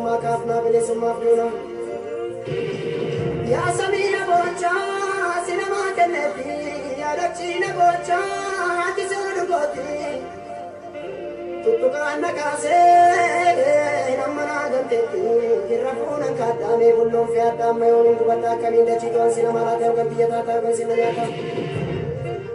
Bilisummaa kaafnaa bilisummaaf duuna. Yaa samii na boochaa si namaa kenneetti yaa dachii na boochaa ati si oduu kooti. Tuttuqaan na kaasee amma naa ganteetti irra fuunan kaaddaamee bulloon fi addaamma yoomiin gubadda akkamiin dachii to'an si namaa laatee hogan biyya taataa hogan si na nyaata.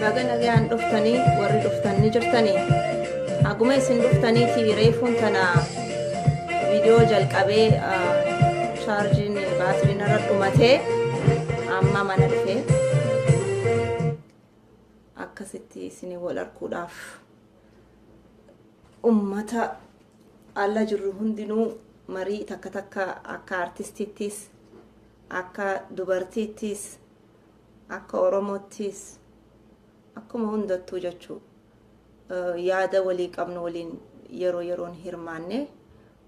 Baga nagayaan dhuftanii warri dhuftan ni jirtanii haguma isin dhuftaniiti reefuun tana viidiyoo jalqabee chaarjiin baatiriin irra dhumatee amma mana dhufee akkasitti isin wal arguudhaaf ummata ala jirru hundinuu marii takka takka akka artistiittis akka dubartiittis Akka Oromoottis akkuma hundattuu jechuu yaada walii qabnu waliin yeroo yeroon hirmaannee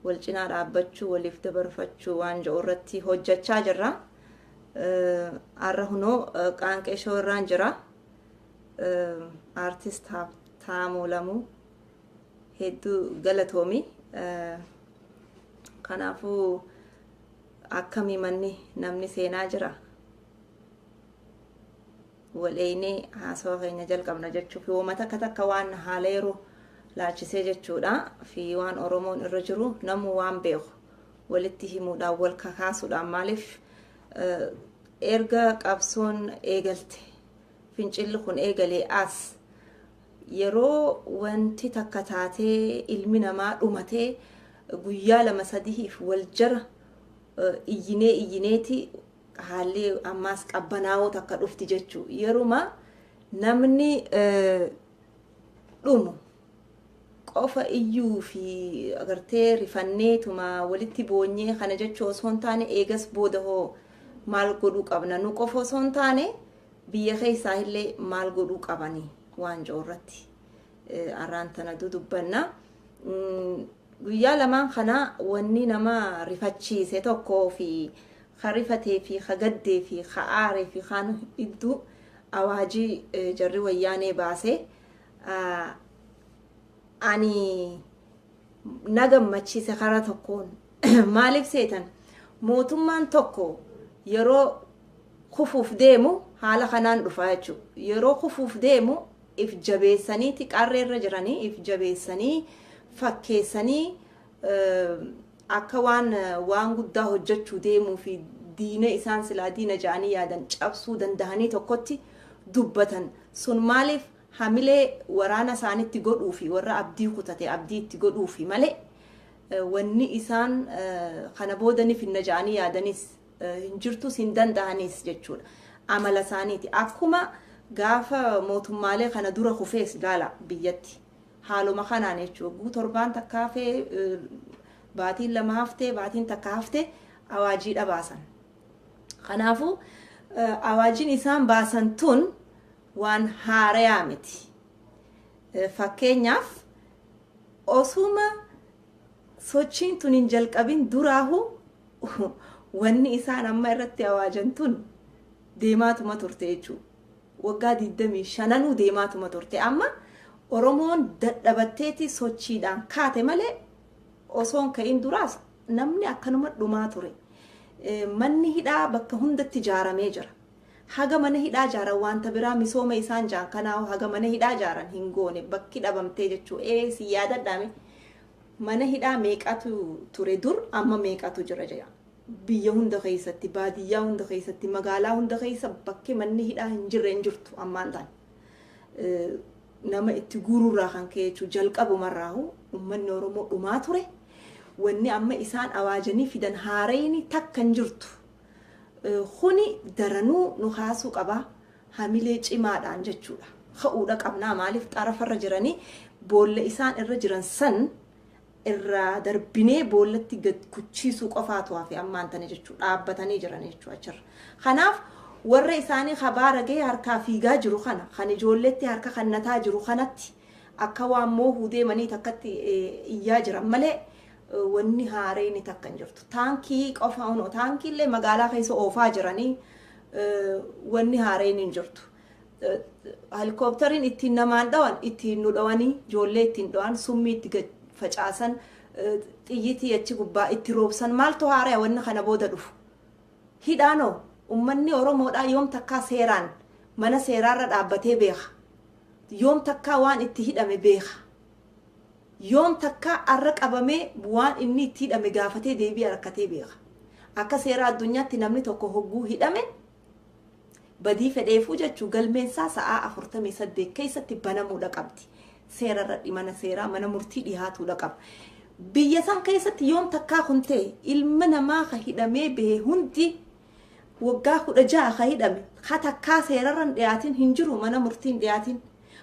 wal cinaa dhaabbachuu waliif dabarfachuu waan jedhu irratti hojjechaa jirra. Har'a hunoo qaanqee shoo irraan jira. Aartist Haabtaamuu Lamuu hedduu galatoomi. Kanaafuu Akkami manni namni seenaa jira? Wal eeynee haasawa keenya jalqabna jechuuf yooma takka takka waan haala yeroo laalchisee jechuudha fi waan Oromoon irra jiru namu waan beeku walitti himuudhaan wal kakaasuudhaan maaliif erga qabsoon eegalte fincilli kun eegalee as Yeroo wanti takka taatee ilmi namaa dhumatee guyyaa lama sadihiif wal jara iyyinee iyyineeti haalli ammaas qabbanaawoo takka dhufti jechu. Yeruma namni dhumu qofa iyyuu fi agartee rifanneetuma walitti boonyee kana jechuu osoo hin taane eegas booda hoo maal godhuu qabna nu qofa osoo hin taane Biyya keessaa illee maal godhuu qabani waancoo irratti arraan tana dudubbanna. Guyyaa lamaan kana wanni nama rifachiise tokkoo fi ka rifatee fi ka gaddee fi ka aaree fi kaan idduu awaajii jarri wayyaanee baase ani na gammachiise karaa tokkoon maaliif seetan mootummaan tokko yeroo kufuuf deemu haala kanaan dhufaa jechuudha. Yeroo kufuuf deemu if jabeessanii xiqqaarree irra jiranii if jabeessanii fakkeessanii akka waan waan guddaa hojjechuu deemuu fi diina isaan silaa diina ja'anii yaadan cabsuu danda'anii tokkotti dubbatan sun maaliif Hamilee waraana isaanitti godhuufi warra abdii kutate abdii itti godhuufi malee wanni isaan kana booda ni finna ja'anii yaadanis hin jirtus hin danda'anis jechuudha. Amala isaaniiti. Akkuma gaafa mootummaalee kana dura kufees ilaala biyyatti. Haaluma kanaan jechuudha. Hogguu torbaan takka hafee, baatiin lama haftee, baatiin takka haftee awaajiidha baasan. Kanaafuu awaajiin isaan baasan tun waan haarayaa miti. Fakkeenyaaf osuma sochiin tun hin jalqabin duraahu wanni isaan amma irratti awaajan tun deemaatuma turte jechuu. Waggaa 25 deemaatuma turte. Amma Oromoon dadhabatteeti sochiidhaan kaate malee osoon ka'in duraas namni akkanuma dhumaa ture. Manni hidhaa bakka hundatti ijaaramee jira. Haga mana hidhaa jaaran wanta biraa misooma isaan jaan kanaahu haga mana hidhaa jaaran hin goone bakki dhabamtee jechuu ee si yaadadhaa mee mana hidhaa meeqatu ture dur amma meeqatu jira jira biyya hunda keessatti baadiyyaa hunda keessatti magaalaa hunda keessa bakki manni hidhaa hin jirre hin jirtu ammaan taan nama itti guururraa kan ka'e jechuu jalqabumarraahu ummanni oromoo dhumaa ture wanni amma isaan awaajanii fidan haarayni takka hin jirtu Kuni daranuu nu kaasuu qaba. Hamilee cimaadhaan jechuudha. Ka'uudha qabnaa maaliif xarafarra jiranii boolla isaan irra jiran san irraa darbinee boollatti gad kuchiisuu qofaatu hafe ammaan tana jechuudha. Dhaabbatanii jiran jechuudha achirra. Kanaaf warra isaanii kabaara gahee harkaa fiigaa jiru kana kan ijoolleetti harka kannataa jiru kanatti akka waan moohuu deemanii takkatti iyyaa jiran malee wanni haareyni takka hin jirtu. Taankii qofa unoo taankiillee magaalaa keessa oofaa jiranii wanni haareyni hin jirtu. Helikooptariin ittiin namaan dhawan ittiin nu dhawanii ijoollee ittiin dhawan summii itti gad facaasan xiyyitii achi gubbaa itti roobsan maaltu haaraya wanni kana booda dhufu. Hidhaanoo ummanni Oromoodhaa yoom takkaa seeraan mana seeraarra dhaabbatee beeka. Yoom takkaa waan itti hidhame beeka. Yoom takka arra qabamee waan inni itti hidhame gaafatee deebi'a rakkatee beeka. Akka seera addunyaatti namni tokko hogguu hidhame badii fedheefuu jechu galmeensaa sa'aa 48 keessatti banamuudha qabdi. Seera irradhi mana seeraa mana murtii dhihaatuudha qaba. Biyya san keessatti yoom takkaa kun ta'e ilma namaa ka hidhamee bahe hundi waggaa 16 ka hidhame ka takkaa seerarra hin dhiyaatin hin jiru mana murtii hin dhiyaatin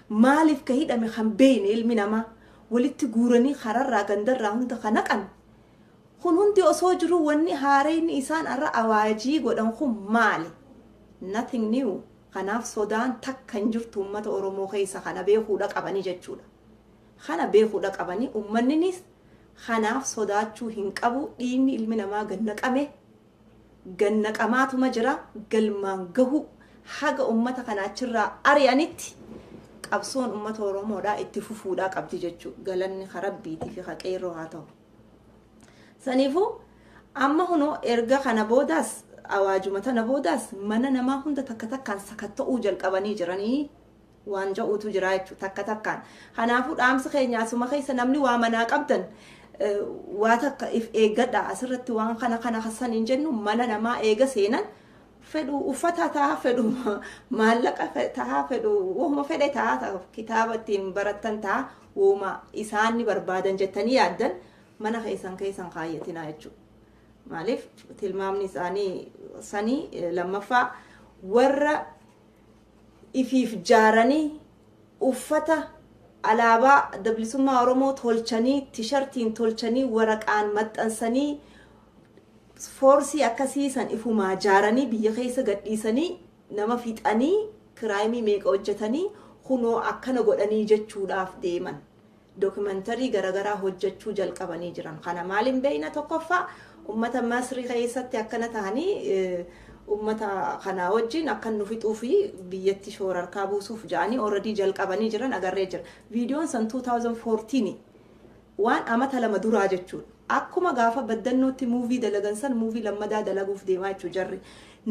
Maaliif ka hidhame kan beeyne ilmi namaa walitti guuranii kararraa gandarraa hunda ka naqan kun hundi osoo jiruu wanni haareyni isaan arra awaajii godhan kun maali? Nothing new. Kanaaf sodaan takka hin jirtu ummata Oromoo keessa kana beekuudha qabanii jechuudha. Kana beekuudha qabanii ummanninis kanaaf sodaachuu hin qabu dhiigni ilmi namaa gad naqame gannaqamaatuma jira. Galmaan gahuu haga ummata kana achirraa ari'anitti qabsoon ummata Oromoodhaa itti fufuudhaa qabdi jechuu galanni ka Rabbiitii fi ka qeerroo haa ta'u. Saniifuu amma kunoo erga kana boodaas awaajuma tana boodaas mana namaa hunda takka takkaan sakatta'uu jalqabanii jiranii waan ja'uutu jira jechuudha takka takkaan. Kanaafuu dhaamsi keenya asuma keessa namni waa manaa qabdan waa takka if eeggadha asirratti waan kana kana kasan hin jennu mana namaa eega seenan fedhu uffata ta'a fedhu maallaqa ta'a fedhu wahuma fedhe ta'a kitaaba ittiin barattan ta'a wahuma isaan ni barbaadan jettanii yaaddan mana keessan keessan kaayyatinaa jechuudha. Maaliif tilmaamni isaanii sanii lammaffaa warra ifiif jaaranii uffata alaabaa adda bilisummaa Oromoo tolchanii tishartiin tolchanii waraqaan maxxansanii foorsii akkasii san ifumaa jaaranii biyya keessa gadhiisanii nama fixanii kiraayimii meeqa hojjetanii kunoo akkana godhanii jechuudhaaf deeman. documentary garagaraa hojjachuu jalqabanii jiran kana maalin beeyna tokkoffaa ummata masri keessatti akkana tahanii ummata kanaa wajjin akkan nu fixuu fi biyyatti shoorarkaa buusuuf ja'anii already jalqabanii jiran agarree jira viidiyoon san 2014 waan amata lama duraa jechuudha akkuma gaafa baddannootti muuvii dalagan san muuvii lammadaa dalaguuf deemaa jechuu jarri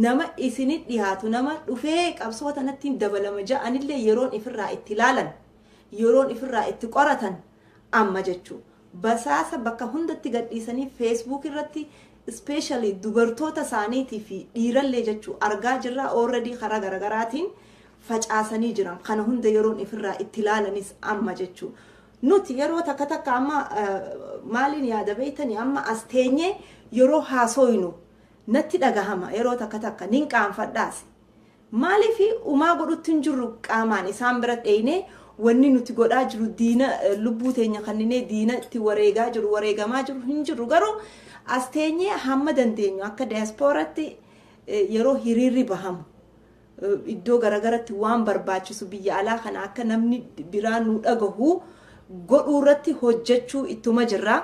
nama isinit dhihaatu nama dhufee qabsoo tanattiin dabalama ja'anillee yeroon ifirraa itti laalan Yeroon ifirraa itti qoratan amma jechuu. Basaasa bakka hundatti gadhiisanii facebook irratti especially dubartoota isaaniitii fi dhiirallee jechuu argaa jirraa already karaa garagaraatiin facaasanii jiran kana hunda yeroon ifirraa itti laalanis amma jechuu. Nuti yeroo takka takka amma maaliin yaada beeytanii amma as teenyee yeroo haasooynu natti dhagahama yeroo takka takka nin qaanfadhaas Maaliif umaa godhutti hin jirru qaamaan isaan bira dheeynee wanni nuti godhaa jiru diina lubbuu teenya kanninee diina itti wareegaa jiru wareegamaa jiru hin jirru garuu as teenyee hamma dandeenyu akka dayaaspooratti yeroo hiriirri bahamu iddoo garagaratti waan barbaachisu biyya alaa kana akka namni biraa nu dhagahu godhuu irratti hojjechuu ittuma jirra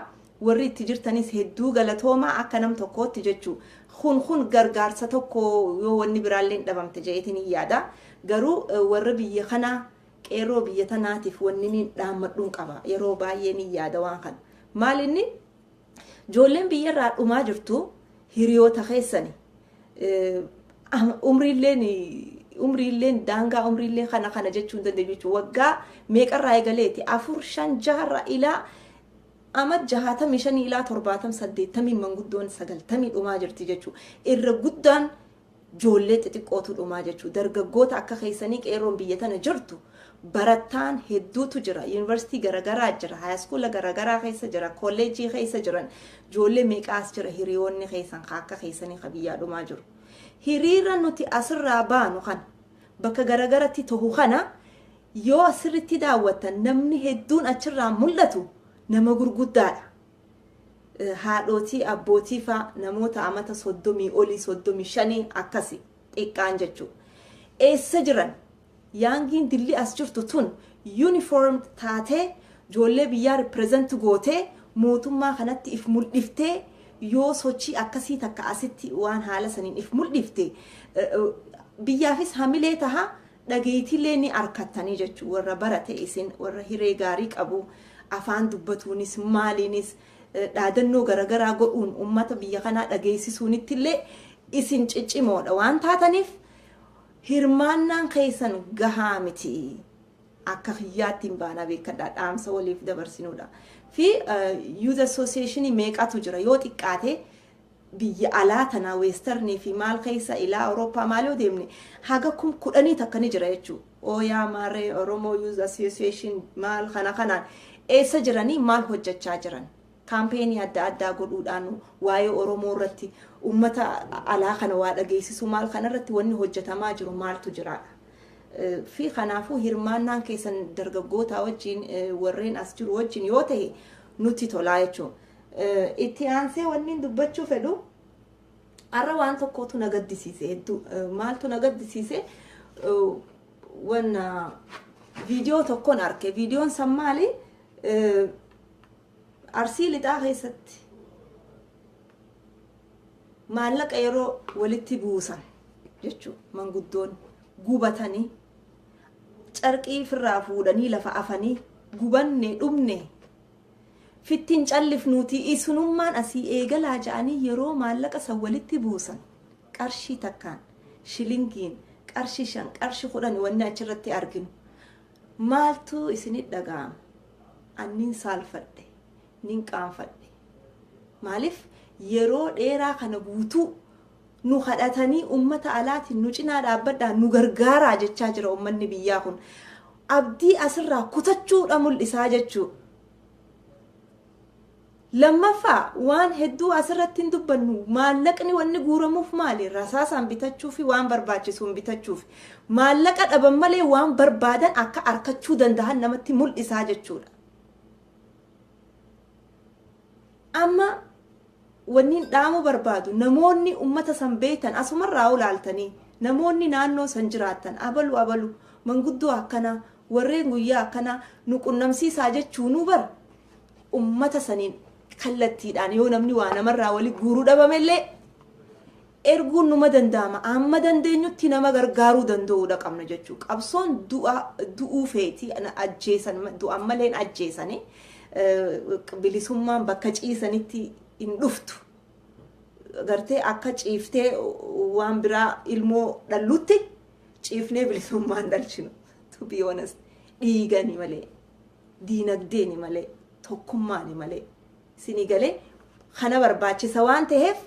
Warri itti jirtanis hedduu galatoomaa akka nam tokkootti jechu kun kun gargaarsa tokko yoo wanni biraalleen dhabamte ja'eetiin hin yaada. Garuu warra biyya kanaa qeerroo biyya tanaatiif wanni niin dhaammadhuun qaba yeroo baay'ee niin yaada waan kana. Maal inni joolleen biyya irraa dhumaa jirtu hiriyoota keessani umriilleen umriilleen daangaa umriillee kana kana jechuu hin dandeenyu jechuudha. Waggaa meeqarraa eegaleeti afur shan jaharraa ilaa Amad 65 ilaa 70 80n manguddoon 90 dhumaa jirti jechu irra guddaan joollee xixiqqootu dhumaa jechu dargaggoota akka keessanii qeerroon biyya tana jirtu barattaan hedduutu jira university garagaraa jira haayaskuula garagaraa keessa jira kolleejjii keessa jiran joollee meeqaas jira hiriyoonni keessan ka akka keessanii ka biyyaa dhumaa jiru hiriira nuti asirraa baanu kana bakka garagaratti tohu kana Yoo sirritti daawwattan namni hedduun achirraa mul'atu nama gurguddaadha. Haadhootii, abbootii faa namoota amata 30 olii, 35 akkasi xiqqaan jechuu. Eessa jiran? Yaangiin dilli as jirtu tun uniform taatee joollee biyyaa represent gootee mootummaa kanatti if muldhiftee yoo sochii akkasii takka asitti waan haala saniin if muldhifte biyyaafis hamilee taha dhageeytiillee ni arkattanii jechu warra barate isin warra hiree gaarii qabu afaan dubbatuunis maaliinis dhaadannoo garagaraa godhuun ummata biyya kanaa dhageeysisuunittillee isin ciccimoodha waan taataniif hirmaannaan keeysan gahaa miti akka kiyyaattiin baanaa beekadhaa dhaamsa waliif dabarsinuudha fi youth association meeqatu jira yoo xiqqaate biyya alaa tanaa western fi maal keessa ilaa Awurooppaa maal yoo deemne haga kum kudhanii takka ni jira jechuu Ooyaa Maaree Oromoo Youth Association maal kana kanaan eessa jiranii maal hojjachaa jiran kaampeenii adda addaa godhuudhaan waa'ee Oromoo irratti ummata alaa kana waa dhageessisuu maal kana irratti wanni hojjatamaa jiru maaltu jiraadha. fi kanaafuu hirmaannaan keessan dargaggootaa wajjin warreen as jiru wajjin yoo ta'e nutti tolaa jechuudha. Itti aansee wanniin dubbachuu fedhu har'a waan tokkootu na gaddisiise hedduu maaltu na gaddisiise wanna viidiyoo tokkoon arge viidiyoon san maali arsii lixaa keessatti maallaqa yeroo walitti buusan jechuu manguddoon gubatanii carqii firraa fuudhanii lafa afanii gubanne dhumne fitti hin callifnuutii isinummaan asii eegalaa ja'anii yeroo maallaqa san walitti buusan qarshii takkaan, shilingiin, qarshi shan, qarshi kudhani wanni achirratti arginu. Maaltu isinit dhaga'ama? An nin saalfadhe, nin qaanfadhe. Maalif yeroo dheeraa kana guutuu Nu kadhatanii ummata alaatiin nu cinaa dhaabbadhaa nu gargaaraa jechaa jira ummanni biyyaa kun. Abdii asirraa kutachuu dha mul'isaa jechuu. Lammaffaa waan hedduu asirratti hin dubbannu maallaqni wanni guuramuuf maali rasaasaan bitachuu fi waan barbaachisuun bitachuuf maallaqa dhaban malee waan barbaadan akka arkachuu danda'an namatti mul'isaa jechuudha. Amma wanniin dhaamuu barbaadu namoonni ummata san beektan asumarraa'uu laaltanii namoonni naannoo san jiraattan abalu abalu manguddoo akkanaa warreen guyyaa akkanaa nu qunnamsiisaa jechuunuu bar ummata saniin kallattiidhaan yoo namni waa namarraa wali guuru dhabamellee erguun numa danda'ama. Amma dandeenyutti nama gargaaruu danda'uudha qabna jechuu. Qabsoon du'a du'uu feeti na ajjeesan ma- du'an malee hin ajjeesani. Eh, Bilisummaan bakka ciisanitti hin dhuftu. Gartee akka ciiftee waan biraa ilmoo dhallutti ciifnee bilisummaa hin dhalchinu. To be honest. Dhiigani malee. diinagdeeni malee tokkummaani malee isinii galee kana barbaachisa waan ta'eef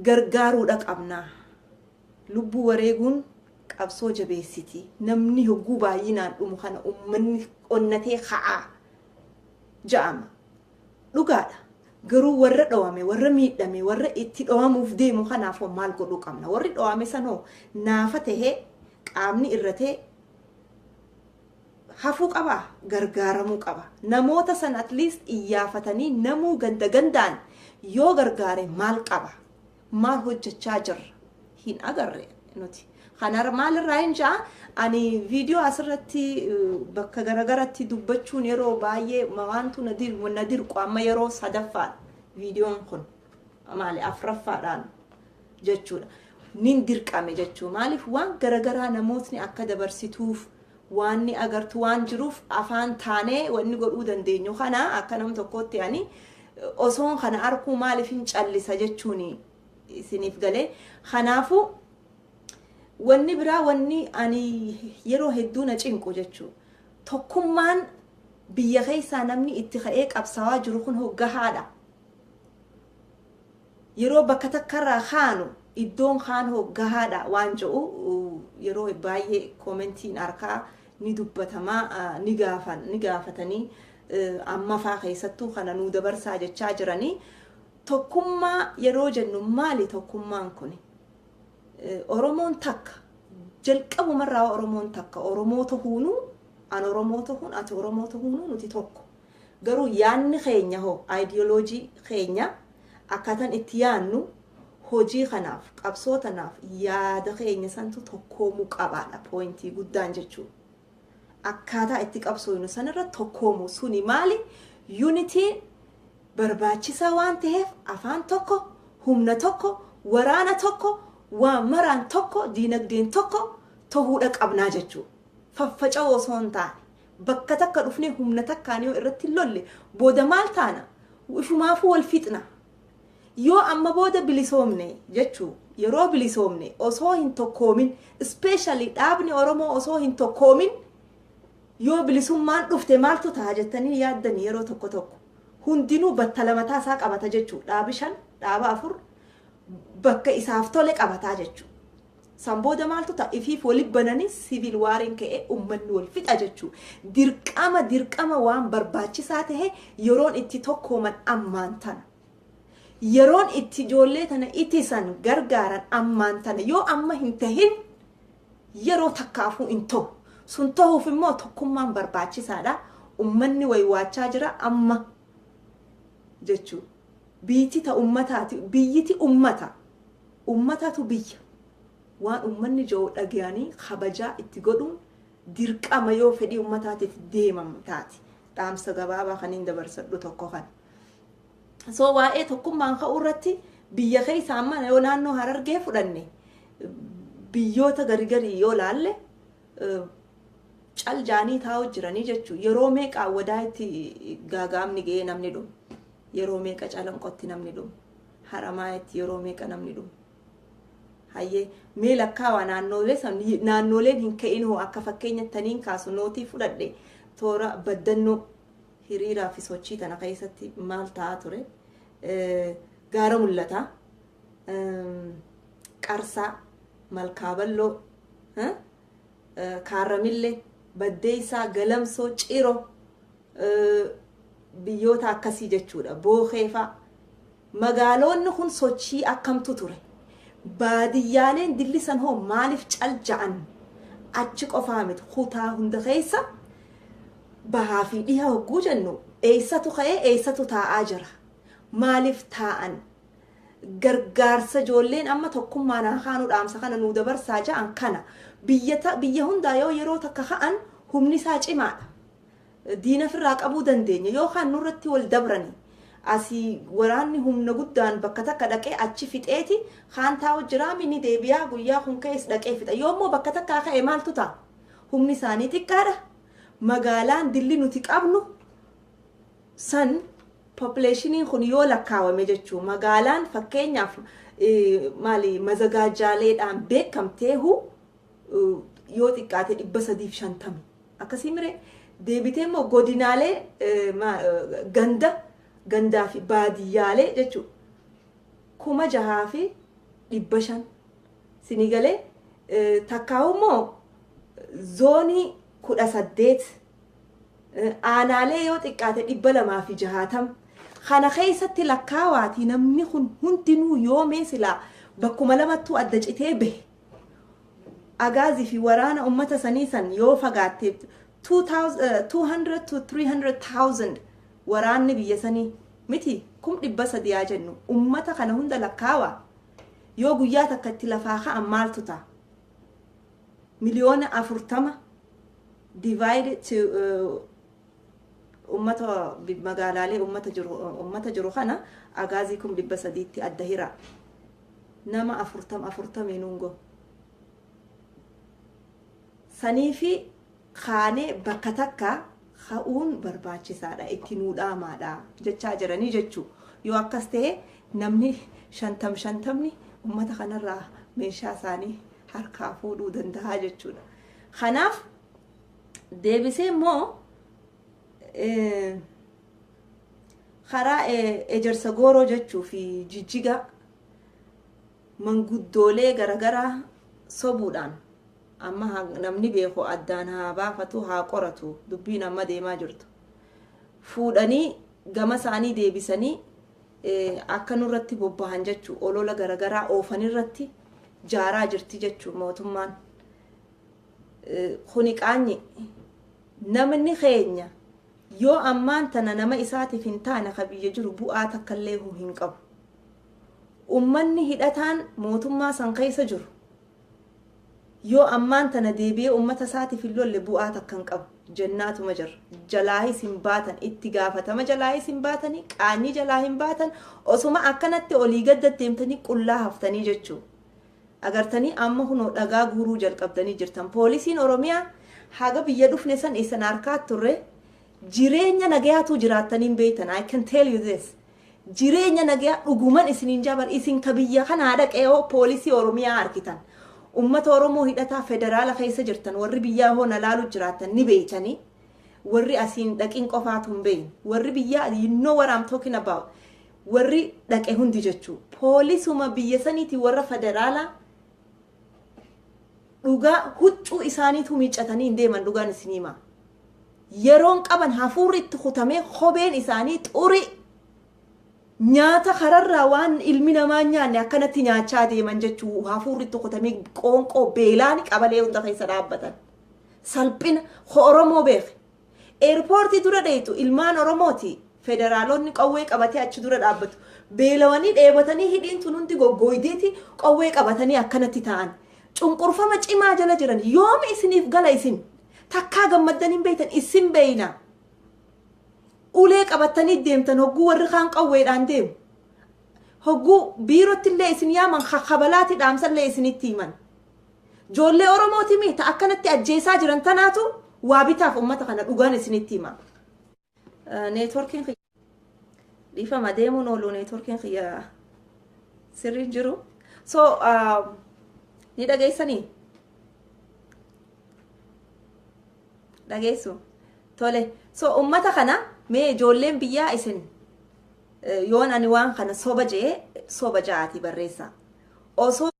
gargaaruudha qabna. Lubbuu wareeguun qabsoo jabeessiti. Namni hogguu baay'inaan dhumu kana ummanni onnatee ka'a ja'ama. Dhugaadha. Garuu warra dhowame, warra miidhame, warra itti dhowamuuf deemu kanaaf hoo maal godhuu qabna? Warri dhowame san hoo naafa tahee qaamni irratee hafuu qabaa? gargaaramuu qaba. Namoota san at least iyyaafatanii namuu ganda gandaan yoo gargaare maal qaba? Maal hojjachaa jirra? Hin agarre nuti. Kanarra maalirraayin ja'a ani viidiyoo asirratti bakka garagaratti dubbachuun yeroo baay'ee waantu na dirqu amma yeroo sadaffaadha viidiyoon kun maali afraffaadhaan jechuudha. Nin dirqame jechuu maaliif waan garagaraa namootni akka dabarsituuf waanni agartu waan jiruuf afaan taanee wanni godhuu dandeenyu kana akka nam tokkootti ani osoon kana arkuu maaliifin callisa jechuun isiniif galee kanaafuu wanni biraa wanni ani yeroo hedduu na cinqu jechuu tokkummaan biyya keessaa namni itti ka'ee qabsaawaa jiru kun hoggahaadha. Yeroo bakka takkarraa kaanu iddoon kaan hoo gahaadha waan je'u yeroo baayyee commentiin arkaa ni dubbatama ni gaafan ni gaafatanii ammafaa keessattuu kana nuu dabarsaa jechaa jirani tokkummaa yeroo jennu maali tokkummaan kuni oromoon takka jalqabumarraa oromoon takka oromoo tahuunuu an oromoo tahuun ati oromoo tahuunuu nuti tokko Garuu yaadni keenya hoo, ideology keenya, akkaataan itti yaadnu hojii kanaaf, qabsoo tanaaf yaada keenya santu tokkoomuu qabaadha point guddaan jechuu. Akkaataa itti qabsooynu sanirra tokkoomuu suni maali? Unity barbaachisaa waan taheef afaan tokko, humna tokko, waraana tokko, waa maraan tokko, diinagdeen tokko tohuudha qabnaa jechuu. Faffaca'uu osoo hin taane, Bakka takka dhufnee humna takkaan yoo irratti hin lolle booda maal taana? Ishumaafuu wal fixna. Yoo amma booda bilisoomne jechuu yeroo bilisoomne osoo hin tokkoomin ispeeshaalii dhaabni Oromoo osoo hin tokkoomin yoo bilisummaan dhufte maaltu ta'a jettanii yaaddanii yeroo tokko tokko hundinuu battala mataa isaa qabata jechuu dhaabi shan dhaaba afur bakka isaaf tole qabataa jechuu. San booda maaltu ta'a? Ifiif wali banani civil war'n ka'e ummanni wal fixa jechu. Dirqama dirqama waan barbaachisaa tahe yeroon itti tokkooman ammaan tana. Yeroon itti ijoollee tana itisan gargaaran ammaan tana. Yoo amma hin tahin yeroo takkaafuu hin tahu. Sun tahuuf immoo tokkummaan barbaachisaadha. Ummanni waywaachaa jira amma jechu. Biiyti ta ummataati biyyiti ummata. Ummatatu biyya. Waan ummanni ja'u dhagayanii kabajaa itti godhuun dirqama yoo fedhii ummataatiif deemamu taate. Dhaamsa gabaabaa kaniin dabarsadhu tokko kana. So waa'ee tokkummaan ka'uu irratti biyya keessa amma yoo naannoo Harargee fudhanne biyyoota garigarii yoo laalle cal jaanii taa'u jiranii jechuun yeroo meeqa wadaa itti gaagaamni ga'ee namni dhumu yeroo meeqa calanqotti namni dhumu. Haramaayaatti yeroo meeqa namni dhume? Hayyee, mee lakkaawaa naannoolee san naannooleen hin ka'in hoo akka fakkeenyatti taniin kaasu nootii fudhadhe toora baddannoo hiriiraa fi sochii tana keessatti maal ta'aa ture? Gaara mul'ataa, qarsaa, malkaaballoo, kaarramillee, baddeessaa, galamsoo, ciroo. biyyoota akkasii jechuudha bookeefaa magaaloonni kun sochii akkamtu ture baadiyyaaleen dillisan hoo maaliif cal ja'an achi qofaa miti kutaa hunda keessa bahaa fi dhiha hogguu jennu eessatu ka'ee eessatu taa'aa jira maaliif taa'an gargaarsa ijoolleen amma tokkummaan haa kaanuu dhaamsa kana nuu dabarsaa ja'an kana biyya hundaa yoo yeroo takka ka'an humni isaa cimaadha diina firraa qabuu dandeenya yoo kaan nurratti wal dabrani asi waraanni humna guddaan bakka takka dhaqee achi fixeeti kaan taa'u jiraami ni deebiyaa guyyaa kun ka'es dhaqee fixa yoo immoo bakka takkaa ka'e maaltu ta'a humni isaanii xiqqaadha magaalaan dilli nuti qabnu san populationiin kun yoo lakkaawame jechuu magaalaan fakkeenyaaf maali mazagaajaaleedhaan beekamteehu yoo xiqqaate dhibba sadiif shantami Akkasii mire deebitee immoo godinaalee ganda gandaa fi baadiyyaalee jechuu kuma jahaa fi dhibba shan sinii galee takkaa'u immoo zoonii kudha saddeet aanaalee yoo xiqqaate dhibba lamaa fi jahaatam kana keessatti lakkaawaatii namni kun hundinuu yoomee silaa bakkuma lamattuu adda citee bahe agaazi fi waraana ummata sanii san yoo fagaatte 200 to 300,000 waraanni biyya sanii miti kum dhibba sadii haa jennu ummata kana hunda lakkaawa yoo guyyaa takka itti lafaa ka'an maaltu ta'a miliyoona afurtama divide to uh, Ummata magaalaalee ummata jiru ummata jiru kana agaazii kum dhibba sadiitti adda hiraa. Nama afurtam afurtamii nuun go. Sanii fi kaanee bakka takka ka'uun barbaachisaadha itti nuu dhaamaadha jechaa jiranii jechuu. Yoo akkas ta'e namni shantam shantamni ummata kanarraa meeshaa isaanii harkaa fuudhuu danda'a jechuudha. Kanaaf deebisee immoo karaa ejersa gooroo jechuu fi jijjigaa manguddoolee garagaraa sobuudhaan amma namni beeku addaan haa baafatu haa qoratu dubbiin amma deemaa jirtu fuudhanii gama isaanii deebisanii akka nurratti bobbahan jechuu olola garagaraa oofanirratti jaaraa jirti jechuu mootummaan Kuni qaanyi. Namni keenya yoo ammaan tana nama isaatiif hin taane ka biyya jiru bu'aa takkalleehu hin qabu. Ummanni hidhataan mootummaa san keessa jiru yoo ammaan tana deebi'ee ummata isaatiif hin lolle bu'aa takka hin qabu. Jennaatuma jirra. Jalaahis hin baatan. Itti gaafatama jalaahis hin baatani. Qaanyi jalaa hin baatan. Osuma akkanatti olii gadda deemtanii qullaa haftanii jechuu. Agartanii amma kunoo dhagaa guuruu jalqabdanii jirtan poolisiin oromiyaa haga biyya dhufne san isin harkaa turre jireenya nagayaatuu jiraattanii hin beeytan I can tell you this jireenya nagayaa dhuguman isiniin jaabar isin ka biyya kanaa dhaqee hoo poolisii oromiyaa arkitan ummata oromoo hidhataa federaala keessa jirtan warri biyyaa hoo nalaalu jiraattan ni beeytanii warri asiin dhaqin qofaatu hin beeyne warri biyyaa you know what I'm talking about warri dhaqe hundi jechuu poolisuma biyya saniiti warra federaalaa dhugaa huccuu isaaniitu miiccatanii hin deeman dhugaan isin hima yeroon qaban hafuurri itti kutamee kopheen isaanii xurii nyaata kararraa waan ilmi namaa hin nyaanne akkanatti nyaachaa deeman jechuu hafuurri itti kutamee qoonqoo beelaan qabalee hunda keessa dhaabbatan salphina ko oromoo beeke Eerpoortii dura dheeyxu ilmaan Oromooti. Federaaloonni qawwee qabatee achi dura dhaabbatu. Beelawanii, dheebotanii hidhiin tun hundi goggooydeeti qawwee qabatanii akkanatti taa'an. Cunqurfama cimaa jala jiran. Yoom isiniif gala isin? Takkaa gammaddanii hin beeytan. Isin beeyna. Ulee qabattanii deemtan hogguu warri kaan qawweedhaan deemu. Hogguu biirottillee isin yaaman kakabalaati dhaamsallee isinitti himan. Joollee Oromooti mii ta akkanatti ajjeesaa jiran tanaatu waa bitaaf ummata kana dhugaan isinitti hima. Neetworkiin kiyya dhiifama deemuun oolu neetworkiin kiyya sirrii hin jiru. So ni dhageessanii? Dhageessu. Tole. So ummata kana mee ijoolleen biyyaa isin yoon ani waan kana soba jee soba ja'aati barreessa. Osoo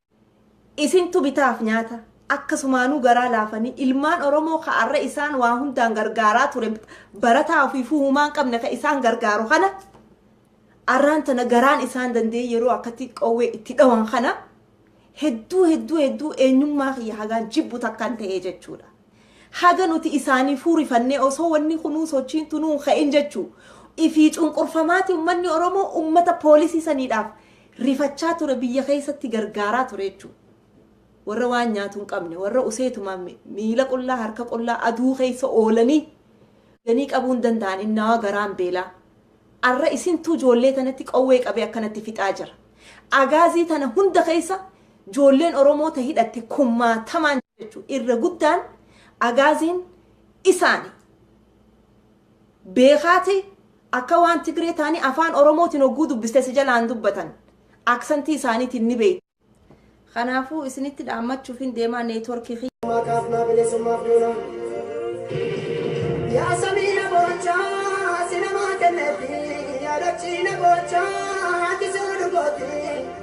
Isintu bitaaf nyaata. Akkasumaanuu garaa laafanii ilmaan Oromoo ka arra isaan waa hundaan gargaaraa ture barataa ofiifuu humaa hin qabne ka isaan gargaaru kana arraan tana garaan isaan danda'ee yeroo akkatti qawwee itti dhawan kana hedduu hedduu hedduu eenyummaa kiyya hagaan jibbu takkan ta'ee jechuudha. Haga nuti isaanii fuurifannee osoo wanni kunuu sochiin tunuu hin ka'in jechuu ifii cunqurfamaati ummanni Oromoo ummata poolisii saniidhaaf rifachaa ture biyya keessatti gargaaraa ture jechuudha. Warra waan nyaatu hin qabne, warra useetumaan mi- miila qullaa, harka qullaa aduu keessa oolanii ganii qabuu hin danda'an innaa garaan beelaa. Arra isintu ijoollee tanatti qawwee qabee akkanatti fixaa jira. Agaazii tana hunda keessa ijoolleen Oromoo ta hidhatte kumaatamaan jechuudha. Irra guddaan agaaziin isaani. Beekaati Akka waan Tigree taanii afaan Oromootiin hogguu dubbiste si jalaan dubbatan. Aksantii isaaniitiin ni beeyta. Kanaafuu isinitti dhaammachuufin deemaa network kiyya. Bilisummaa kaafnaa bilisummaaf duuna. Yaa samii na boochaa si namaa kenneefi yaa dachii na boochaa ati si odugooti.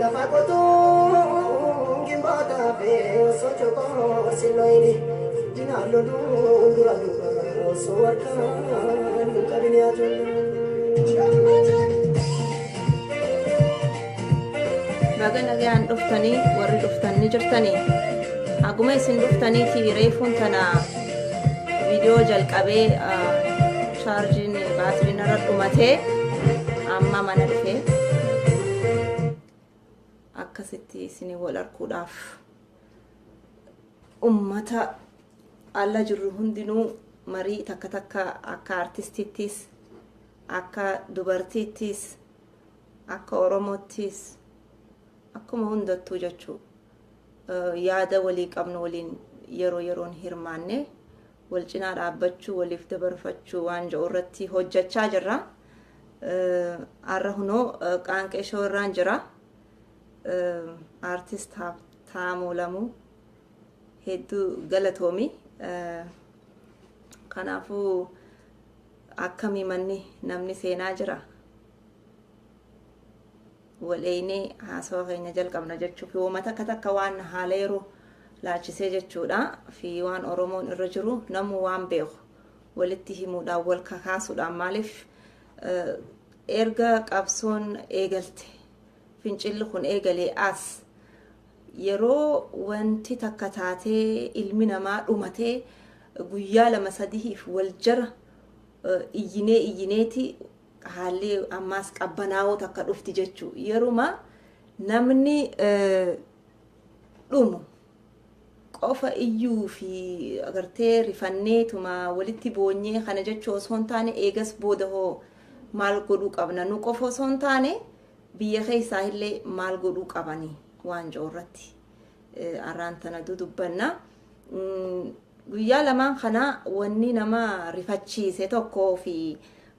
Lafa qotuun gimboota fee osoo cokoo silloyini dinaan loluun dura duuba osoo harkaan hin qabin Baga nagaan dhuftanii warri dhuftan ni jirtanii. Haguma isin dhuftaniiti reefuun tana viidiyoo jalqabee chaarjiin baatiriin irra dhumatee amma mana dhufee akkasitti isin wal arguudhaaf ummata alla jirru hundinuu marii takka takka akka artistiittis akka dubartiittis akka oromoottis akkuma hundattuu jechuu yaada walii qabnu waliin yeroo yeroon hirmaanne wal cinaa dhaabbachuu waliif dabarfachuu waan jedhu irratti hojjechaa jirra. Har'a hunoo qaanqee shoo irraan jira. Aartist Taamuu Lamuu hedduu galatoomi. Kanaafuu akkamii manni namni seenaa jira. Wal eeynee haasawa keenya jalqabna jechuu fi woma takka takka waan haala yeroo laalchisee jechuudha fi waan Oromoon irra jiru namuu waan beeku walitti himuudhaan wal kakaasuudhaan maaliif erga qabsoon eegalte fincilli kun eegalee as yeroo wanti takka taatee ilmi namaa dhumatee guyyaa lama sadihiif wal jara iyyinee iyyineeti Haalli ammaas qabbanaa'oo takka dhufti jechuu yeruma namni dhumu qofa iyyuu fi agartee rifanneetuma walitti boonyee kana jechuu osoo hin taane eegas booda hoo maal godhuu qabna nu qofa osoo hin taane biyya keessaa illee maal godhuu qabani waan jiru irratti arraan tana dudubbanna. Guyyaa lamaan kana wanni nama rifachiise tokko fi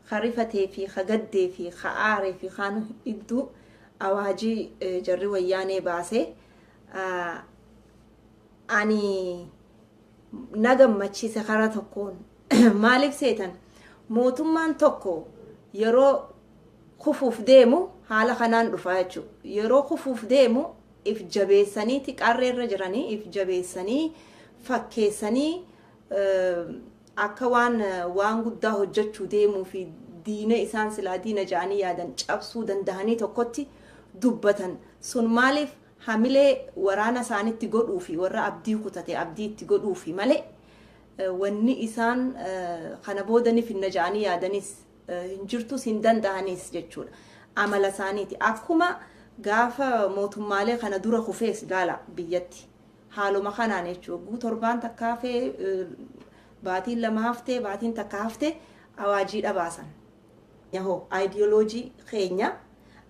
ka rifatee fi ka gaddee fi ka aaree fi kaanu iddu awaaji jarri wayyaanee baase ani na gammachiise karaa tokkoon maaliif seetan mootummaan tokko yeroo kufuuf deemu haala kanaan dhufaa jechuudha yeroo kufuuf deemu if jabeessanii ti qarree irra jiranii if jabeessanii fakkeessanii akka waan waan guddaa hojjechuu deemuu fi diina isaan silaa diina ja'anii yaadan cabsuu dandahanii tokkotti dubbatan sun maaliif hamilee waraana isaanitti godhuu fi warra abdii kutate abdii itti godhuu fi malee wanni isaan kana booda ni finna ja'anii yaadanis hin jirtus hin danda'anis jechuudha. Amala isaaniiti. Akkuma gaafa mootummaalee kana dura kufees ilaala biyyatti. Haaluma kanaan jechuudha. Guu torbaan takka hafee baatiin lama haftee baatiin takka haftee awaajii dhabaasan. Yahoo ayidiyooloojii keenya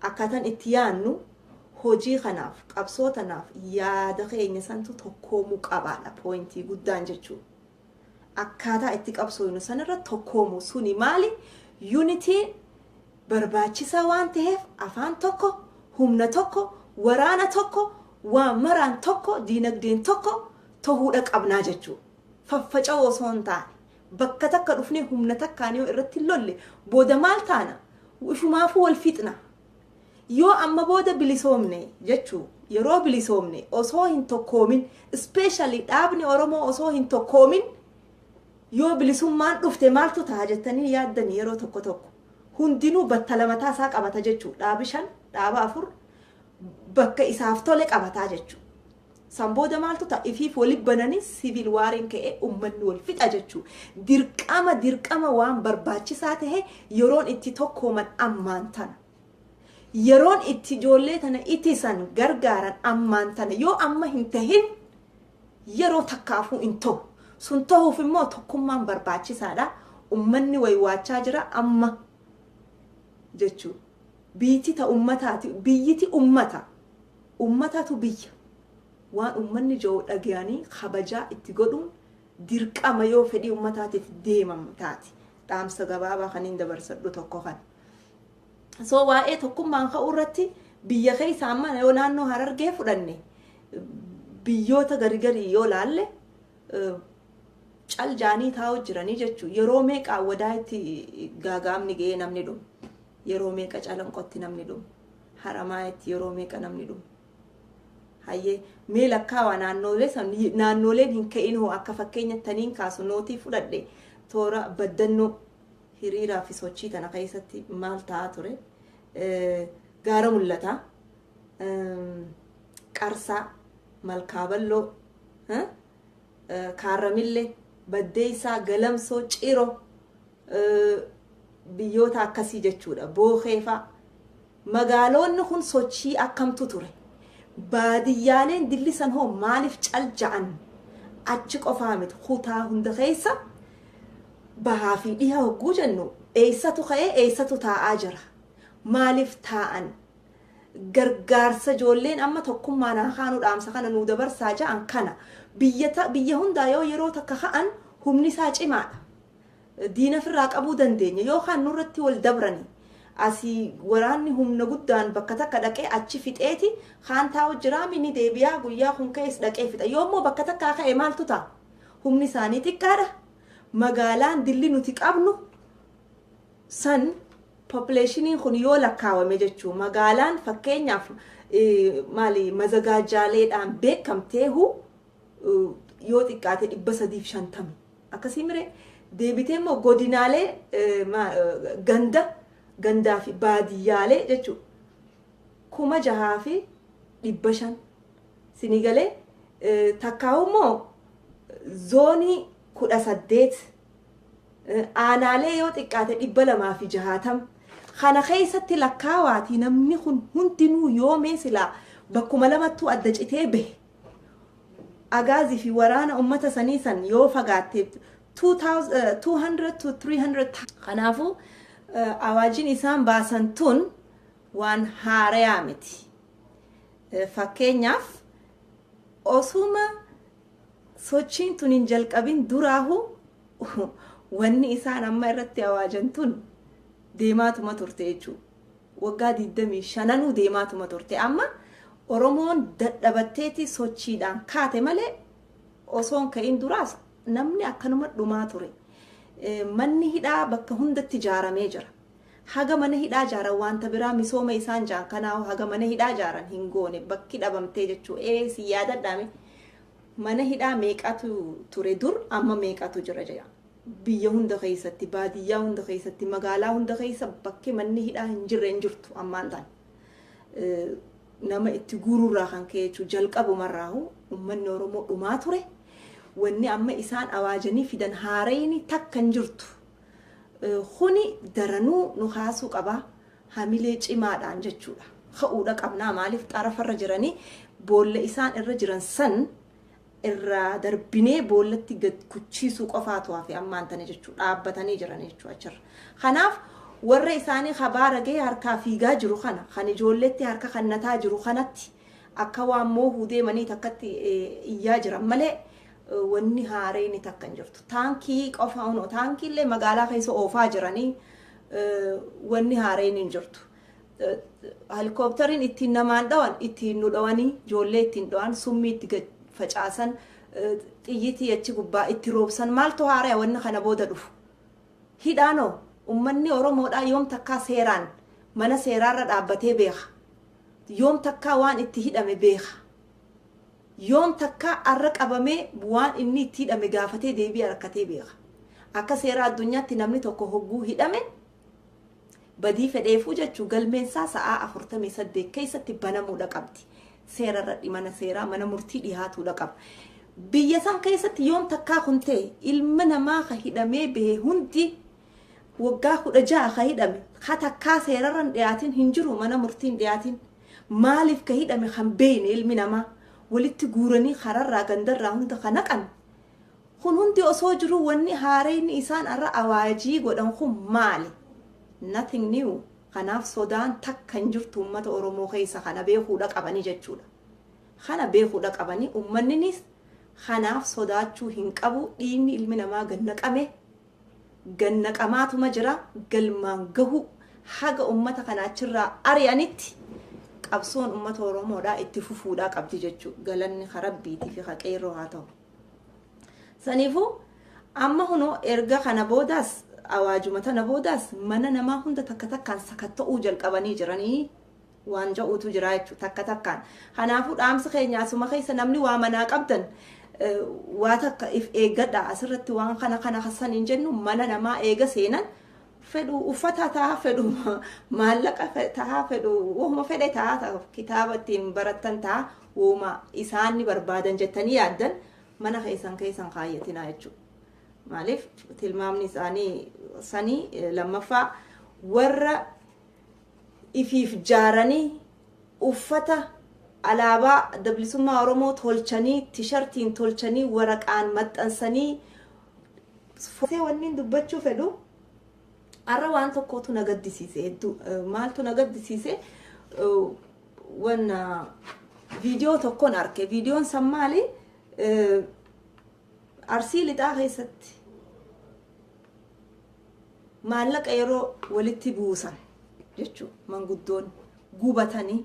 akkaataan itti yaannu hojii kanaaf qabsoo tanaaf yaada keenya santu tokkoomuu qabaadha pooyintii guddaan jechuudha. akkaataa itti qabsooynu sanirra tokkoomu suni maali unitiin barbaachisaa waan taheef afaan tokko humna tokko waraana tokko waa maraan tokko diinagdeen tokko tohuudha qabnaa jechuu faffaca'uu osoo hin taane bakka takka dhufnee humna takkaan yoo irratti hin lolle booda maal taana ifumaafuu wal fixna Yoo amma booda bilisoomne jechuu yeroo bilisoomne osoo hin tokkoomin ispeeshaalii dhaabni Oromoo osoo hin tokkoomin yoo bilisummaan dhufte maaltu ta'a jettanii yaaddanii yeroo tokko tokko hundinuu battala mataa isaa qabata jechuu dhaabi shan dhaaba afur bakka isaaf tole qabataa jechuu San booda maaltu ta'a? Ifiif wali bananii civil war'n ka'ee ummanni wal fixa jechuu. Dirqama dirqama waan barbaachisaa tahe yeroon itti tokkooman ammaan tana. Yeroon itti ijoollee tana itisan gargaaran ammaan tana. Yoo amma hin tahin yeroo takkaafuu hin tahu. Sun tahuuf immoo tokkummaan barbaachisaadha. Ummanni waywaachaa jira amma jechuu. Biiyti ta ummataati. Biyyiti ummata. Ummatatu biyya. Waan ummanni ja'u dhagayanii kabajaa itti godhuun dirqama yoo fedhii ummataatiif deemamu taate. Dhaamsa gabaabaa kaniin dabarsadhu tokko kana. So waa'ee tokkummaan ka'uu irratti biyya keessa amma yoo naannoo Harargee fudhanne biyyoota garigarii yoo laalle cal jaanii taa'u jiranii jechuun yeroo meeqa wadaa itti gaagaamni ga'ee namni dhumu yeroo meeqa calanqotti namni dhumu Haramaayaatti yeroo meeqa namni dhume? Hayyee, mee lakkaawaa naannoolee san, naannooleen hin ka'in hoo akka fakkeenyatti taniin kaasu nootii fudhadhe toora baddannoo hiriiraa fi sochii tana keessatti maal ta'aa ture? Gaara mul'ataa, qarsaa, malkaaballoo, Kaarramille, Baddeessaa, Galamsoo, Ciro, biyyoota akkasii jechuudha. Bookee fa'a. Magaaloonni kun sochii akkamtu ture? Baadiyyaaleen dillisan hoo maaliif cal ja'an? Achi qofaa miti kutaa hunda keessa bahaa fi dhiha hogguu jennu eessatu ka'ee eessatu taa'aa jira? Maaliif taa'an? gargaarsa ijoolleen amma tokkummaan haa kaanu dhaamsa kana nuu dabarsaa ja'an kana biyya ta- biyya hundaa yoo yeroo takka ka'an humni isaa cimaadha. diina ofirraa qabuu dandeenya yookaan nurratti wal dabrani asii waraanni humna guddaan bakka takka dhaqee achi fixeeti kaan taa'u jiraami ni deebi'aa guyyaa kun ka'es dhaqee fixa yoo immoo bakka takkaa ka'e maaltu ta'a humni isaanii xiqqaadha magaalaan dilli nuti qabnu san populationiin kun yoo lakkaawame jechuu magaalaan fakkeenyaaf maali mazagaajaaleedhaan beekamteehu yoo xiqqaate dhibba sadiif shantami akkasii mire deebitee immoo godinaalee ganda gandaa fi baadiyyaalee jechuu kuma jahaa fi dhibba shan sinii galee takkaawu immoo zoonii kudha saddeet aanaalee yoo xiqqaate 260 kana keessatti lakkaawaatii namni kun hundinuu yoo mee silaa bakkuma lamattuu adda citee bahe agaazii fi waraana uummata sanii san yoo fagaatte 200 to 300 kanaafuu awaajiin isaan baasan tun waan haarayaa miti. Fakkeenyaaf osuma Sochiin tun hin jalqabin duraahu wanni isaan amma irratti awaajan tun deemaatuma turte jechuu. Waggaa 25nuu deemaatuma turte. Amma Oromoon dadhabatteeti sochiidhaan kaate malee osoo hin ka'in duraas namni akkanuma dhumaa ture. Manni hidhaa bakka hundatti ijaaramee jira. Haga mana hidhaa jaaran wanta biraa misooma isaan jaan kanaahu haga mana hidhaa jaaran hin goone bakki dhabamtee jechuu ee si yaadadhaa mee mana hidhaa meeqatu ture dur amma meeqatu jira jira biyya hunda keessatti baadiyyaa hunda keessatti magaalaa hunda keessa bakki manni hidhaa hin jirre hin jirtu ammaan tan nama itti guururraa kan ka'e jechuu jalqabumarraahu ummanni oromoo dhumaa ture wanni amma isaan awaajanii fidan haarayni takka hin jirtu Kuni daranuu nu kaasuu qaba. Hamilee cimaadhaan jechuudha. Ka'uudha qabnaa maaliif xarafarra jiranii boolla isaan irra jiran san irraa darbinee boollatti gad kuchiisuu qofaatu hafe ammaan tana jechuudha. Dhaabbatanii jiran jechuudha achirra. Kanaaf warra isaanii kabaara gahee harkaa fiigaa jiru kana kan ijoolleetti harka kannataa jiru kanatti akka waan moohuu deemanii takkatti iyyaa jiran malee wanni haareyni takka hin jirtu. Taankii qofa unoo taankiillee magaalaa keessa oofaa jiranii wanni haareyni hin jirtu. Helikooptariin ittiin namaan dhawan ittiin nu dhawanii ijoollee ittiin dhawan summii itti gad facaasan xiyyitii achi gubbaa itti roobsan maaltu haaraya wanni kana booda dhufu. Hidhaanoo ummanni Oromoodhaa yoom takkaa seeraan mana seeraarra dhaabbatee beeka. Yoom takkaa waan itti hidhame beeka. Yoom takka arra qabamee waan inni itti hidhame gaafatee deebii arakkatee beeka? Akka seera addunyaatti namni tokko hogguu hidhame badii fedheefuu jechu galmeen isaa sa'aa 48 keessatti banamuudha qabdi. Seera irradhi mana seeraa mana murtii dhihaatuudha qaba. Biyya san keessatti yoom takkaa kun ta'e ilma namaa ka hidhamee bahe hundi Waggaa 16 ka hidhame ka takkaa seerarra hin dhiyaatin hin jiru mana murtii hin dhiyaatin maaliif ka hidhame kan beeyne ilmi namaa walitti guuranii kararraa gandarraa hunda ka naqan kun hundi osoo jiruu wanni haareyni isaan arra awaajii godhan kun maali nothing new kanaaf sodaan takka hin jirtu ummata oromoo keessa kana beekuudha qabanii jechuudha kana beekuudha qabanii ummanniniis kanaaf sodaachuu hin qabu dhiigni ilmi namaa gad naqame gannaqamaatuma jira, galmaan gahuu haga ummata kana achirraa ari'anitti qabsoon ummata Oromoodhaa itti fufuudhaa qabdi jechuu galanni ka Rabbiitii fi ka qeerroo haa ta'u. Saniifuu amma kunoo erga kana boodaas awaajuma tana boodaas mana namaa hunda takka takkaan sakatta'uu jalqabanii jiranii waan ja'uutu jira jechuudha takka takkaan. Kanaafuu dhaamsi keenya asuma keessa namni waa manaa qabdan waa takka if eeggadha asirratti waan kana kana kasan hin jennu mana namaa eega seenan fedhu uffata ta'a fedhu maallaqa ta'a fedhu wahuma fedhe ta'a kitaaba ittiin barattan ta'a wahuma isaan ni barbaadan jettanii yaaddan mana keessan keessan kaayyatinaa jechuudha. Maaliif tilmaamni isaanii sanii lammaffaa warra ifiif jaaranii uffata alaabaa Adda Bilisummaa Oromoo tolchanii, tishartiin tolchanii, waraqaan maxxansanii, footoon wanniin dubbachuu fedhu har'a waan tokkootu na gaddisiise hedduu maaltu na gaddisiise wanna viidiyoo tokkon arke viidiyoon san maali arsii lixaa keessatti Maallaqa yeroo walitti buusan jechuu manguddoon gubatanii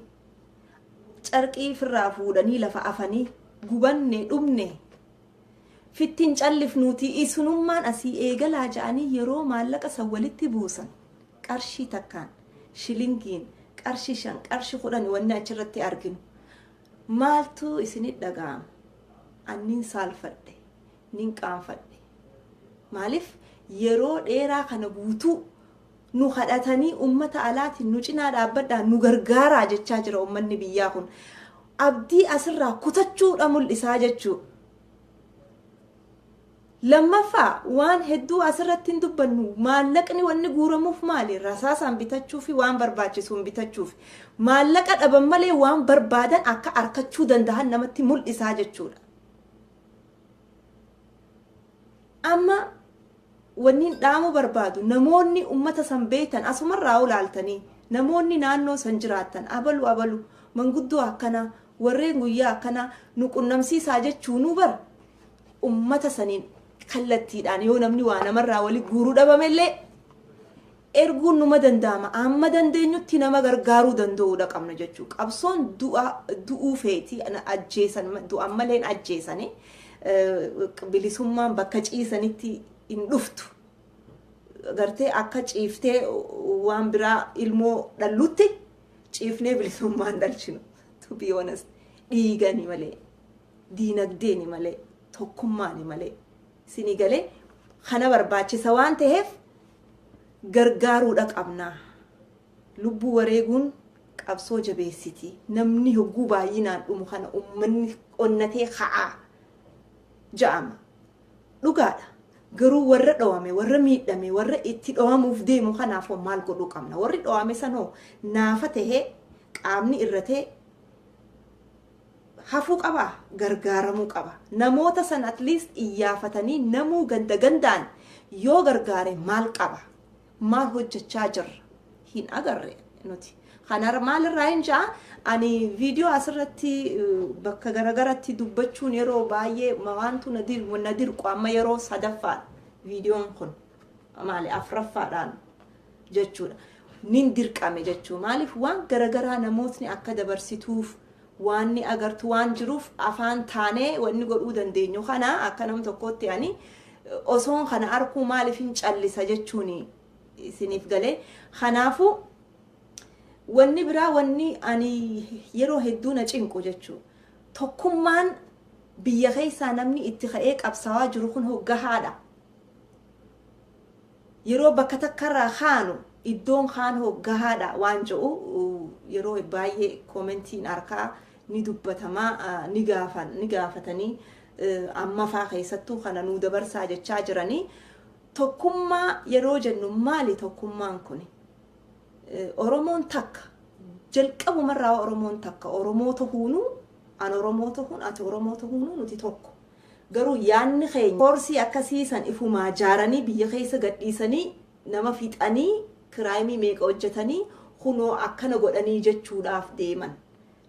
carqii ifirraa fuudhanii lafa afanii gubanne dhumne fittin callifnuutii isinummaan asii eegalaa ja'anii yeroo maallaqa san walitti buusan qarshii takkaan shilingiin qarshi shan qarshi kudhan wanni achirratti arginu maaltu isinit dhaga'ama annin saalfadhe Nin qaanfadhe. Maaliif yeroo dheeraa kana guutuu nu kadhatanii ummata alaatiin nu cinaa dhaabbadhaa nu gargaaraa jechaa jira ummanni biyyaa kun. Abdii asirraa kutachuudha mul'isaa jechuu. Lammaffaa waan hedduu asirratti hin dubbannu maallaqni wanni guuramuuf maali rasaasaan bitachuu fi waan barbaachisuun bitachuuf maallaqa dhaban malee waan barbaadan akka arkachuu danda'an namatti mul'isaa jechuudha. amma wanniin dhaamuu barbaadu namoonni ummata san beektan asumarraa olaaltanii namoonni naannoo san jiraattan abalu abalu manguddoo akkanaa warreen guyyaa akkanaa nu qunnamsiisaa jechuunuu bar ummata saniin kallattiidhaan yoo namni waa namarraa wali guuruu dhabamellee erguun numa danda'ama amma dandeenyutti nama gargaaruu danda'uudha qabna jechuu qabsoon du'a du'uu feeti na ajjeesan ma- du'an malee hin ajjeesani Eh, bilisummaan bakka ciisanitti hin dhuftu gartee akka ciiftee waan biraa ilmoo dhallutti ciifnee bilisummaan dhalchinu to be honest dhiigani malee diinagdeeni malee tokkummaani malee sini galee kana barbaachisa waan ta'eef gargaaruudha qabna. Lubbuu wareeguun qabsoo jabeessiti. Namni hogguu baay'inaan dhumu kana ummanni onnatee ka'aa ja'ama. Dhugaadha. Garuu warra dhowame, warra miidhame, warra itti dhowamuuf deemu kanaaf hoo maal godhuu qabna? Warri dhowame san hoo naafa tahee, qaamni irratee, hafuu qabaa? gargaaramuu qaba. Namoota san at least iyyaafatanii namuu ganda gandaan yoo gargaare maal qaba? Maal hojjachaa jirra? Hin agarre nuti. Kanarra maalirraa hin ja'a ani viidiyoo asirratti bakka garagaratti dubbachuun yeroo baay'ee waantu na dirqu amma yeroo sadaffaa viidiyoon kun maali afraffaadhaan jechuudha. Nin dirqame jechuu maaliif waan garagaraa namootni akka dabarsituuf waanni agartu waan jiruuf afaan taanee wanni godhuu dandeenyu kana akka nam tokkootti ani osoon kana arkuu maaliif hin callisa jechuun isiniif galee kanaafuu wanni biraa wanni ani yeroo hedduu na cinqu jechuu tokkummaan biyya keessaa namni itti ka'ee qabsaawaa jiru kun hoggahaadha. Yeroo bakka takkarraa kaanu iddoon kaan hoo gahaadha waan je'u yeroo baayyee commentiin arkaa ni dubbatama ni gaafan ni gaafatanii ammafaa keessattuu kana nuu dabarsaa jechaa jiranii tokkummaa yeroo jennu maali tokkummaan kuni oromoon takka jalqabumarraa oromoon takka oromoo tahuunuu an oromoo tahuun ati oromoo tahuunuu nuti tokko Garuu yaadni keenya koorsii akkasii san ifumaa jaaranii biyya keessa gadhiisanii nama fixanii kiraayimii meeqa hojjatanii kunoo akkana godhanii jechuudhaaf deeman.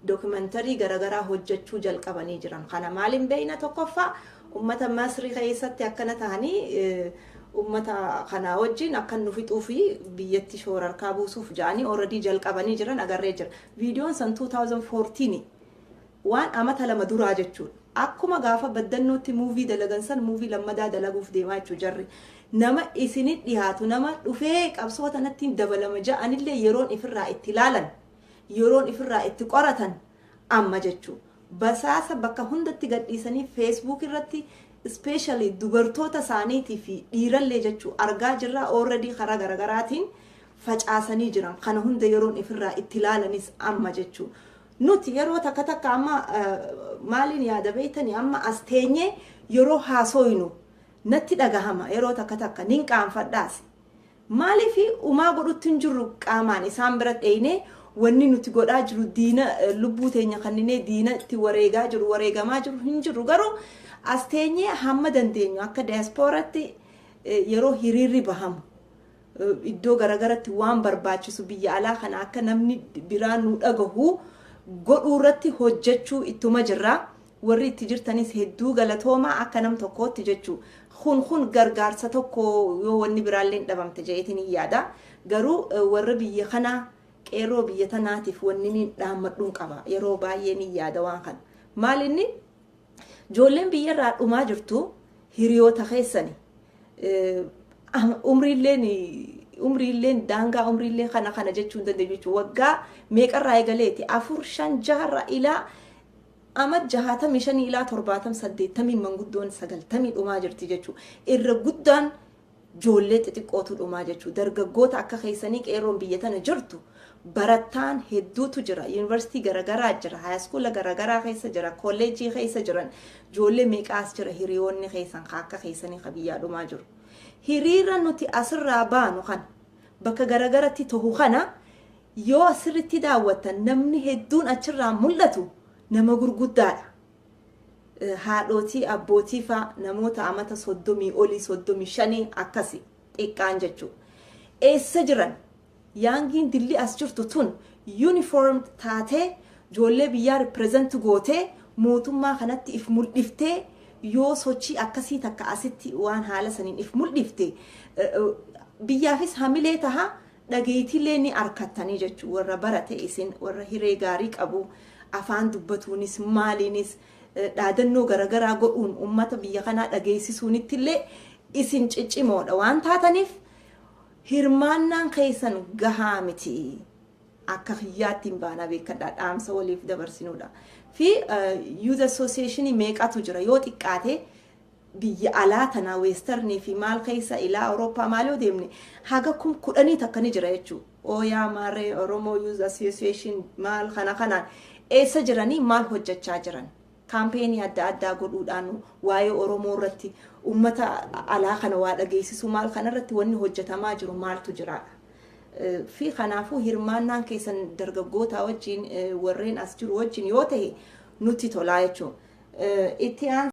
Dokimantarii garagaraa hojjachuu jalqabanii jiran. Kana maaliin beeyna tokkoffaa ummata Masri keessatti akkana tahanii ummata kanaa wajjiin akkan nu fixuu fi biyyatti shoorarkaa buusuuf ja'anii already jalqabanii jiran agarree jira. Viidiyoon san 2014 Waan amata lama duraa jechuudha. Akkuma gaafa baddannootti movie dalagan san movie lammadaa dalaguuf deemaa jechuudha jarri. Nama isini dhihaatu nama dhufee qabsoo tanattiin dabalama ja'anillee yeroon ifirraa itti laalan, yeroon ifirraa itti qoratan amma jechuudha. Basaasa bakka hundatti gadhiisanii facebook irratti specially dubartoota isaaniitii fi dhiirallee jechuudha argaa jirra already karaa garagaraatiin facaasanii jiran. Kana hunda yeroon ifirraa itti laalanis amma jechuudha. Nuti yeroo takka takka amma maaliin yaada beektanii amma as teenyee yeroo haasooynu natti dhagahama yeroo takka takka nin qaanfadhaas. Maaliif umaa godhutti hin jirru qaamaan isaan bira dheeynee wanni nuti godhaa jiru diina lubbuu teenya kanninee diina itti wareegaa jiru wareegamaa jiru hin jirru garuu as teenyee hamma dandeenyu akka daayaspooratti yeroo hiriirri bahamu iddoo garagaratti waan barbaachisu biyya alaa kana akka namni biraa nu dhagahu godhuu irratti hojjechuu ittuma jirra. Warri itti jirtanis hedduu galatoomaa akka nam tokkootti jechuu. Kun kun gargaarsa tokko yoo wanni biraallee hin dhabamte jedheetiin hin yaada. Garuu warra biyya kanaa qeerroo biyya tanaatiif wanni niin dhaammadhuun qaba. Yeroo baay'ee niin yaada waan kana. Maal inni Ijoolleen biyya irraa dhumaa jirtu hiriyoota keessani. Umriilleen umriilleen daangaa umriillee kana kana jechuu hin dandeenyu jechuudha. Waggaa meeqarraa eegaleeti afur shan jaharraa ilaa amma jahaatamii shanii ilaa torbaatam saddeettamii manguddoon sagaltamii dhumaa jirti jechuudha. Irra guddaan Joollee xixiqqootu dhumaa jechuu dargaggoota akka keessanii qeerroon biyya tana jirtu barattaan hedduutu jira yuunivarsiitii garagaraa jira haayaskuula garagaraa keessa jira kolleejjii keessa jiran joollee meeqaa as jira hiriyoonni keessan ka akka keessanii ka biyyaa dhumaa jiru hiriira nuti asirraa baanu kana bakka garagaratti tohu kana yoo asirritti daawwattan namni hedduun achirraa mul'atu nama gurguddaadha haadhootii, abbootii faa namoota amata 30 olii 35 akkasi xiqqaan jechuu eessa jiran yaangiin dilli as jirtu tun uniform taatee joollee biyyaa represent gootee mootummaa kanatti if muldhiftee yoo sochii akkasii takka asitti waan haala saniin if muldhifte biyyaafis hamilee taha dhageeytiillee ni arkattanii jechu warra barate isin warra hiree gaarii qabu afaan dubbatuunis maaliinis dhaadannoo garagaraa godhuun ummata biyya kanaa dhageeysisuunittillee isin ciccimoodha waan taataniif hirmaannaan keeysan gahaa miti akka kiyyaattiin baanaa beekadhaa dhaamsa waliif dabarsinuudha fi youth association meeqatu jira yoo xiqqaate biyya alaa tanaa western fi maal keessa ilaa Awurooppaa maal yoo deemne haga kum kudhanii takka ni jira jechuu oo yaa maaree Oromoo Youth Association maal kana kanaan eessa jiranii maal hojjachaa jiran kaampeenii adda addaa godhuudhaan waa'ee Oromoo irratti ummata alaa kana waa dhageessisuu maal kana irratti wanni hojjatamaa jiru maaltu jira fi kanaafuu hirmaannaan keessan dargaggootaa wajjin warreen as jiru wajjin yoo ta'e nutti tolaa jechuun itti aan